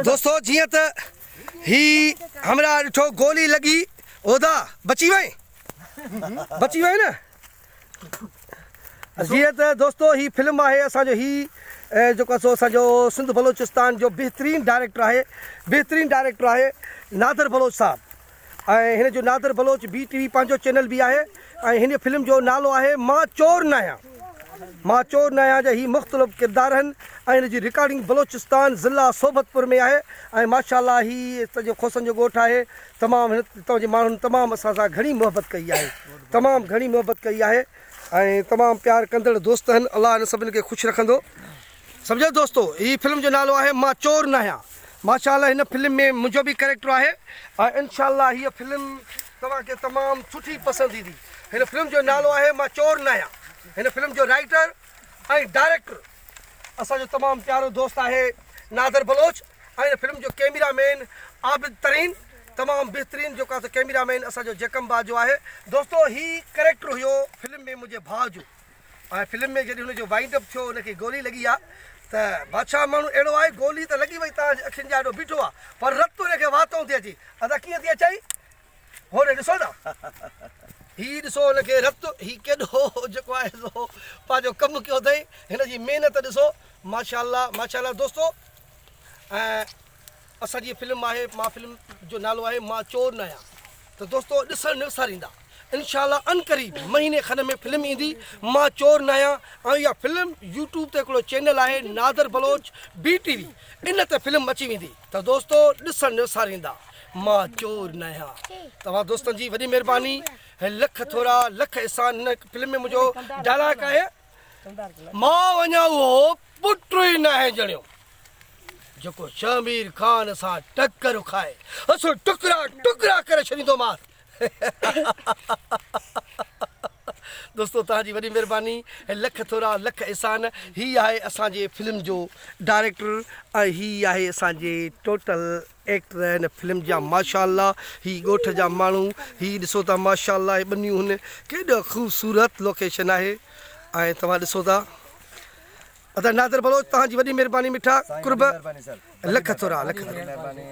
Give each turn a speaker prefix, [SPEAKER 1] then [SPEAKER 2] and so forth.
[SPEAKER 1] دوستو جيئن ته هي همراهه ڏٺو گولي لڳي اودا بچي وئي بچي وئي نه جيئي ته دوستو هي فلم آهي اسان جو هي جيڪو سو اسان جو سنڌ بلوچستان جو بهترين ڊائريڪٽر آهي بهترين ڊائريڪٽر آهي نادر بلوچ صاحب ۽ هن جو Nadir Baloch B T V پنهنجو چينل به آهي ۽ هن فلم جو نالو آهي مان چور نه آهيان مان چور نه آهيان جا هي مختلف ڪردار آهن ۽ هن جي رڪارڊنگ بلوچستان ضلع صحبت پور ۾ آهي ۽ ماشاء الله هي سڄو کوسن جو ڳوٺ آهي تمام هتان جي ماڻهن تمام اسان سان گهڻي محبت ڪئي آهي تمام گهڻي محبت ڪئي آهي ۽ تمام پيار ڪندڙ دوست هن الله هن سڀن کي خوش رکندو سمجهيو دوستو هي فلم جو نالو آهي مان چور ناهيان ماشاء الله هن فلم ۾ منهنجو به ڪريڪٽر آهي ۽ انشاء الله هي فلم توهان کي تمام سٺي پسند ايندي هن فلم جو نالو آهي مان چور ناهيان هن فلم جو رائٽر ۽ ڊائريڪٽر اسان جو تمام پيارو دوست آهي نادر بلوچ ۽ هن فلم جو ڪيميرا مين عابد ترين تمام بهترين جيڪو آسان ڪيميرا مين اسان جو جيڪم باجو آهي دوستو هي ڪريڪٽر هيو فلم ۾ منهنجي ڀاء جو ۽ فلم ۾ جڏهن هن جو وائنڊ اپ ٿيو هن کي گولي لڳي آ ته بادشاهه ماڻهو اهڙو آهي گولي ته لڳي وئي تان جي اکين جا اهڙو بيٺو آ پر رت هن کي واتئون ٿي اچي ادا ڪيئن ٿي اچئي هوني ڏسو نا هي ڏسو هن کي رت هي ڪيڏو جيڪو آهي سو پنهنجو ڪم ڪيو اٿئي هن جي محنت ڏسو ماشاء الله ماشاء الله دوستو ۽ اسان جي فلم آهي مان فلم جو نالو آهي مان چور نه آهيان ته دوستو ڏسڻ نه وساريندا انشاء الله ان قريب مهيني کن ۾ فلم ايندي مان چور نه آهيان ۽ اها فلم يوٽيوب تي هڪڙو چينل آهي Nadir Baloch B T V ان تي فلم اچي ويندي ته دوستو ڏسڻ نه وساريندا مان چور نه آهيان توهان دوستن جي وڏي مهرباني لک ٿورا لک احسان هن فلم ۾ منهنجو ڊائلاگ آهي مان وڃان اهو پٽ ئي ناهي ڄڻيو جيڪو شهمير خان سان ٽڪر کائي اسو ٽڪرا ٽڪرا ڪري ڇڏيندومانس دوستو توهان جي وڏي مهرباني ۽ لک ٿورا لک احسان هي آهي اسان جي فلم جو ڊائريڪٽر ۽ هي آهي اسان جي ٽوٽل ايڪٽر هن فلم جا ماشا الله هي ڳوٺ جا ماڻهو هي ڏسو ته ماشا الله هي ٻنيون هن ڪيڏو خوبصورت لوڪيشن آهي ۽ توهان ڏسو ته ادا نادر بلوچ توهان جي وڏي مهرباني مٺا قرب لک ٿورا لک ٿورا